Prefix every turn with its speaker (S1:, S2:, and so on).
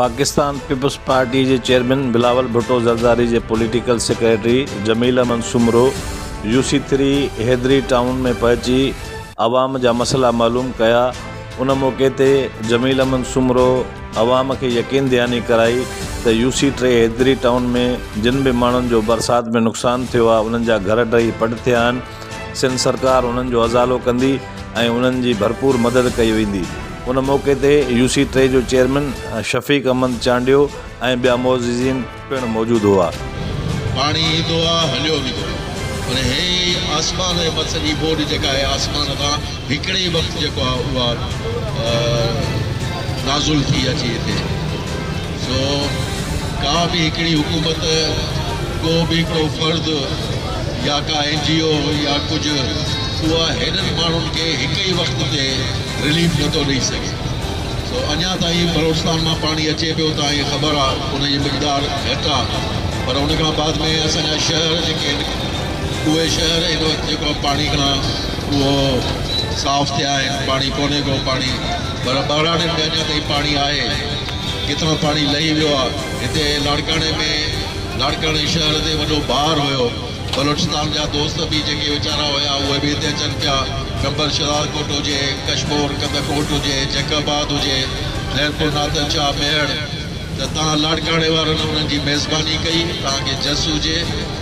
S1: Pakistan Peoples Party جي chairman Bilawal Bhutto Zardari جي political secretary Jamil Ahmed Soomro U C three Haidri Town ۾ پهچي عوام جا مسئلا معلوم ڪيا ان موقعي تي جميل احمد سومرو عوام کي يقين دهاني ڪرائي ته U C T Haidri Town ۾ جن به ماڻهن جو برسات ۾ نقصان ٿيو آهي انهن جا گهر ڊهي پٽ ٿيا آهن سنڌ سرڪار انهن جو ازالو ڪندي ۽ انهن جي ڀرپور مدد ڪئي ويندي. ان موقعي تي يو سي ٽي جو چيئرمين شفيق احمد چانڊيو ۽ ٻيا معززين پڻ موجود هئا. پاڻي
S2: ايندو آ هليو ويندو آ. پر هي ئي آسمان ۽ مٿس جي ٻوڏ جيڪا آهي آسمان تان هڪڙي ئي وقت جيڪو آ اها نازل ٿي اچي هتي سو ڪا به هڪڙي حڪومت ڪو به ڪو فرد يا ڪا اين جي او يا ڪجهه اها هيڏن ماڻهن کي هڪ ئي وقت تي رليف نٿو ڏئي سگهي سو اڃا تائين بلوچستان مان پاڻي اچي پيو ته ائين خبر آ ان جي مقدار گهٽ آ پر ان کان بعد ۾ اسان جا شهر جيڪي اهي شهر هن وقت جيڪو پاڻي کان اهو صاف ٿيا آهن پاڻي ڪونهي ڪو پاڻي پر ٻهراڙين ۾ اڃا تائين پاڻي آهي ڪٿان پاڻي لهي ويو آهي هتي لاڙڪاڻي ۾ لاڙڪاڻي شهر تي وڏو بار هيو بلوچستان جا دوست به جيڪي ويچارا هيا اهي به هتي اچن پيا ٽمبر شهداد ڪوٽ هجي ڪشمور ڪنڌ ڪوٽ هجي جيڪب آباد هجي خيرپور نادر شاهه ميهڙ ته تان لاڙڪاڻي وارن انهن جي ميزباني ڪئي تان کي جس هجي.